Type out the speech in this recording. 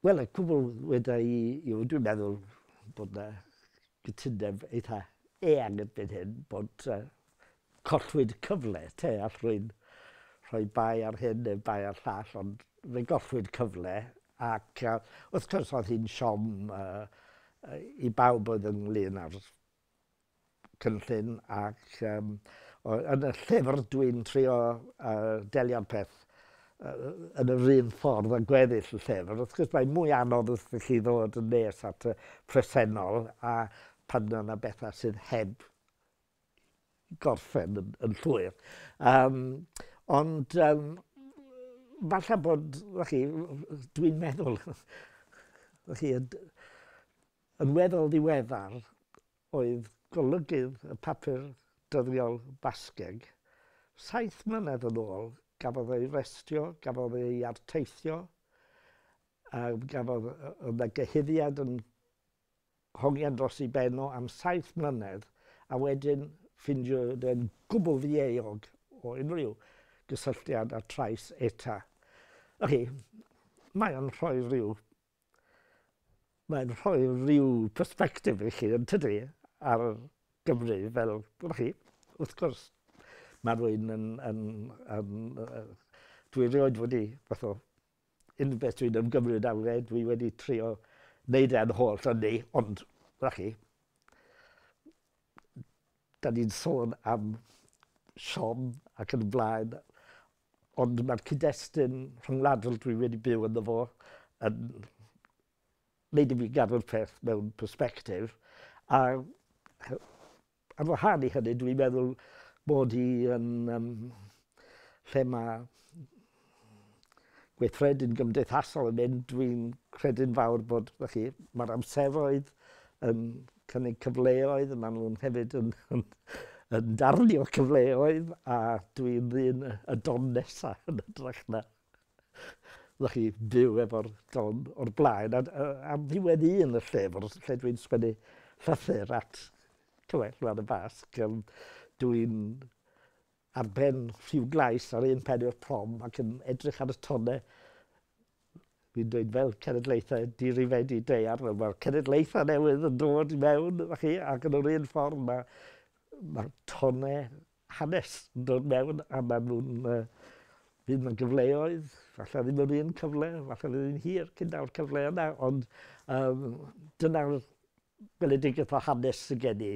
Wel y cwbl weda i yw dwi'n meddwl bod na gytundeb eitha eang erbyn hyn bod yy collwyd y cyfle te all rwy'n rhoi bai ar hyn neu bai ar llall ond fe gollwyd cyfle ac yy wrth gwrs oedd hi'n siom yy yy i bawb oedd ynglŷn â'r cynllun ac yym o- yn y llyfr dwi'n trio yy delio'r peth yy yn yr un ffordd â gweddill y llyfr. Wrth gwrs mae'n mwy anodd wrth i chi ddod yn nes at y presennol a pan mae yna bethau sydd heb gorffen yn, yn llwyr. Um, ond um, falle bod, chi, dwi'n meddwl, chi, Yn weddol ddiweddar oedd golygydd y papur dyddiol Basgeg. Saith mlynedd yn ôl gafodd ei restio, gafodd ei arteithio, a gafodd yna gyhuddiad yn hongian dros ei ben o am saith mlynedd, a wedyn ffindio fe'n gwbl ddieuog o unrhyw gysylltiad â trais ETA. Felly, mae o'n rhoi rhyw Mae'n rhoi rhyw persbectif i chi yntydy ar Gymru fel gwel chi wrth gwrs ma' rwy'n yn yn yn yy dwi rioed wedi fath o unrhyw beth dwi'n ymgymryd â fe dwi wedi trio neud e'n holl ynni ond gwel chi 'dan ni'n sôn am siom ac yn y blaen Ond mae'r cyd-destun rhyngwladol dwi wedi byw ynddo fo yn wneud i fi gadw'r peth mewn persbectif. A ar wahân i hynny, dwi'n meddwl bod hi yn um, lle mae gweithredu'n gymdeithasol yn mynd, dwi'n credu'n fawr bod, felly, mae'r amseroedd yn cynnig cyfleoedd, maen nhw'n hefyd yn, yn, yn darnio cyfleoedd a dwi'n ddyn y don nesa yn ytrach na ddech chi byw efo'r don o'r blaen. A, a, a fi wedi un y llyfr lle dwi'n sgwennu llythyr at Cywell Lwan y Basg. Dwi'n ar ben rhyw glais ar un pen i'r prom ac yn edrych ar y tone fi'n dweud fel cenedlaethau di-rifeidi daear, wel mae'r cenedlaethau newydd yn dod i mewn, ydych chi, ac yn yr un ffordd mae, mae tone hanes yn dod mewn a maen nhw'n uh, fydd yna gyfleoedd, falle ddim yr un cyfle, falle ddim yn hir cyn daw'r cyfle yna, ond um, dyna'r gweledigaeth o hanes sydd gen i.